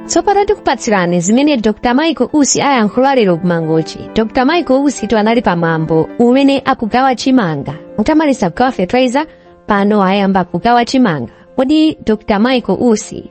tsopano tikupatsirani zimene dr michael usi ayankhula lero kumangochi dr michael usi tu anali pa mwambo umene akugawa chimanga mutamaliza kugawa fertilizer pano ayamba kugawa chimanga kodi dr michael usi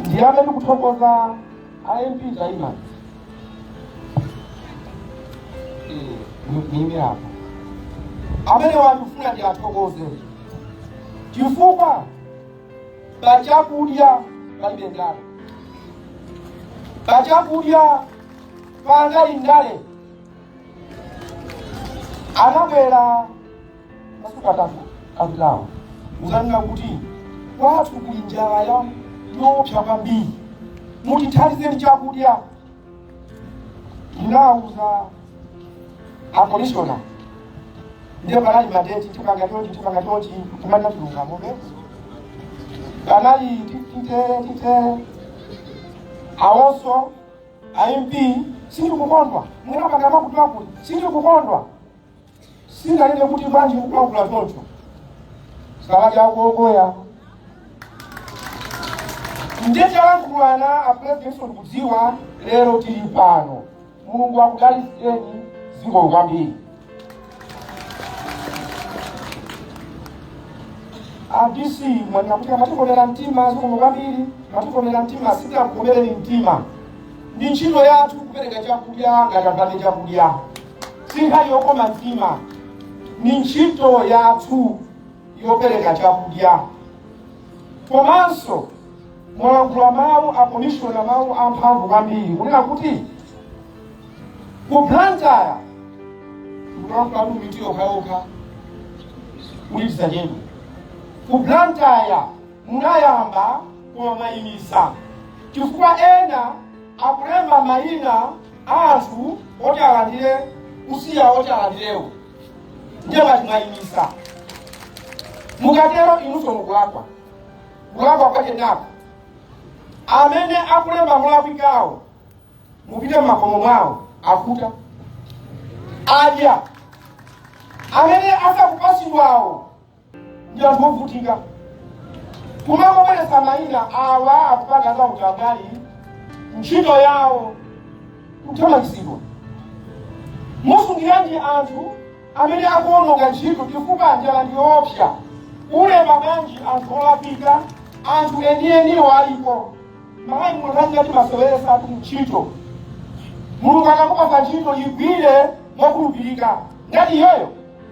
ndiyambe ndikuthokoza a mp zaima ndime apa amene wandifuna ndiyathokoze chifukwa pa chakudya palibe ndale pa chakudya palibe ndale anabwera masiku atatu apitawo kudzanena kuti kwathu kuli njala yoopsa kwambiri mutithandizeni chakudya ndinawuza akomishona ndiye panali madeti tipanga chonchi tipanga chonchi kumana chilungamobe panali titere titere awonso a mp sindikukondwa munapanga makuti makuti sindikukondwa sindinganene kuti bwanji kukwakula choncho zikawadya akuokoya ndiye talankhulana apulezidentinso akudziwa lero tili pano mulungu akudalitseni zikomo kwambiri a dc mwanena kuti amatikomera mtima zikomo kwambiri amatikomera mtima sitinakukomereni mtima ndi ntchito yathu kupereka chakudya ngati apatse chakudya si nkhani yokoma mtima ni ntchito yathu yopereka chakudya komanso mwalankhula mawu akomishona mawu amphamvu kwambiri kunena kuti ku blantyre mukulankhula ndi miti yokhaokha kuti tisachedwe ku blantyre munayamba kumayimisa chifukwa ena akulemba mayina a anthu oti alandire kusiya oti alandirewo ndiye ngati mwayimisa mukatero inunso mukulakwa kulakwa kwake nako amene akulemba molakwikawo mupite m'makomo mwawo akuta adya amene asakupatsidwawo ndi anthu ovutika kumangobweretsa mayina awa akupanga za utambwali ntchito yawo kuthamangitsidwa musungiranji anthu amene akuononga ntchito chifukwa njala ndi yoopsa ulemba bwanji anthu olakwika anthu enieniyo alipo malawi mumangoti maseweretsa tu ntchito mulungu akakupatsa ntchito igwire mokhulupirika ngati iyoyo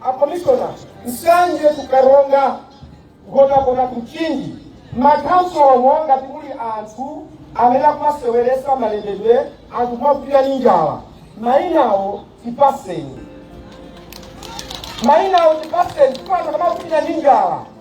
A Commissioner, Nsanje to Karonga, Nkhotakota to Mchinji, makhansala ngati kuli anthu amene akumaseweretsa malembedwe anthu kumavutika ndi njala mayinawo tipaseni mayinawo tipaseni kuti anthu akamavutika ndi njala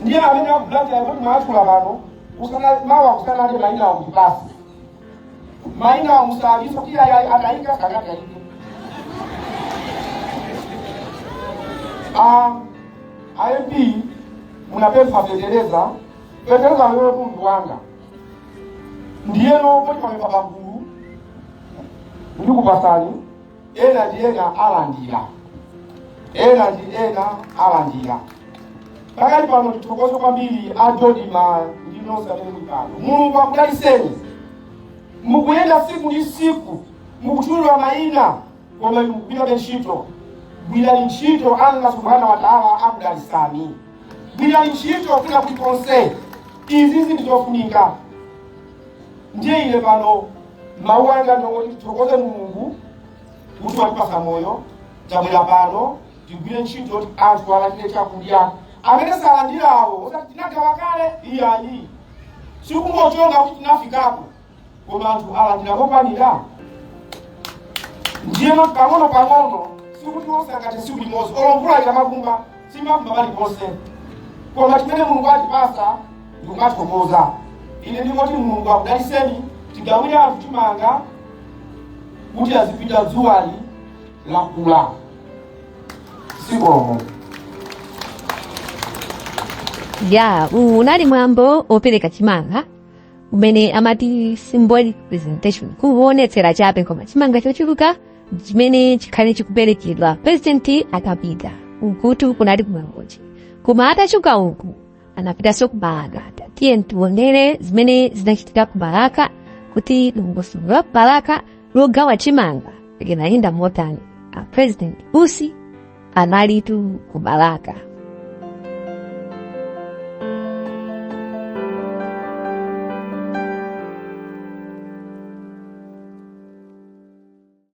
ndiye amene akulandira kuti mwatchula pano mawa kusanade mayina awo mutipatse mayina awo musauzeso kuti ayayi anayika kakatayike AIP munapempha fetereza fetereza mtundu wanga ndiyeno kuti pamenepa pagulu ndikupatsani ena ndi ena alandira ena ndi ena alandira pakali pano tithokoze kwambiri a dodima ndi nonse amene muli pano mulungu akudaliseni mukuyenda tsiku ndi tsiku mukutchulidwa mayina koma inu mukugwirabe ntchito gwirani ntchito allah subhanahu wa taala akudalisani gwirani ntchito kwina kulikonse izi ndi zofunika ndiye ine pano mawu anga ndingoti tithokoze mulungu kuti watipasa moyo tabwera pano tigwire ntchito kuti anthu alandire chakudya amene salandirawo osati tinagawa kale iyayi sikungochonga kuti tinafikako koma anthu alandira mokwanira ndiyeno pang'ono pang'ono sikuti onse angati tsiku limodzi olo mvula ikamavumba simavumba paliponse koma chimene mulungu atipasa ndikumathokoza ine ndingoti mulungu akudaliseni tigawire anthu chimanga kuti azipita dzuwali lakula zikomo ya uwu unali mwambo opereka chimanga umene amati symbolic presentation kuonetsera chabe koma chimanga chochuluka chimene chikhale chikuperekedwa president akapita ukutu kunali ku Mangochi koma atachoka uku anapitanso ku balaka tiyeni tiwonere zimene zinachitika ku balaka kuti dongosolo la ku balaka logawa chimanga linayenda motani a president usi analitu ku balaka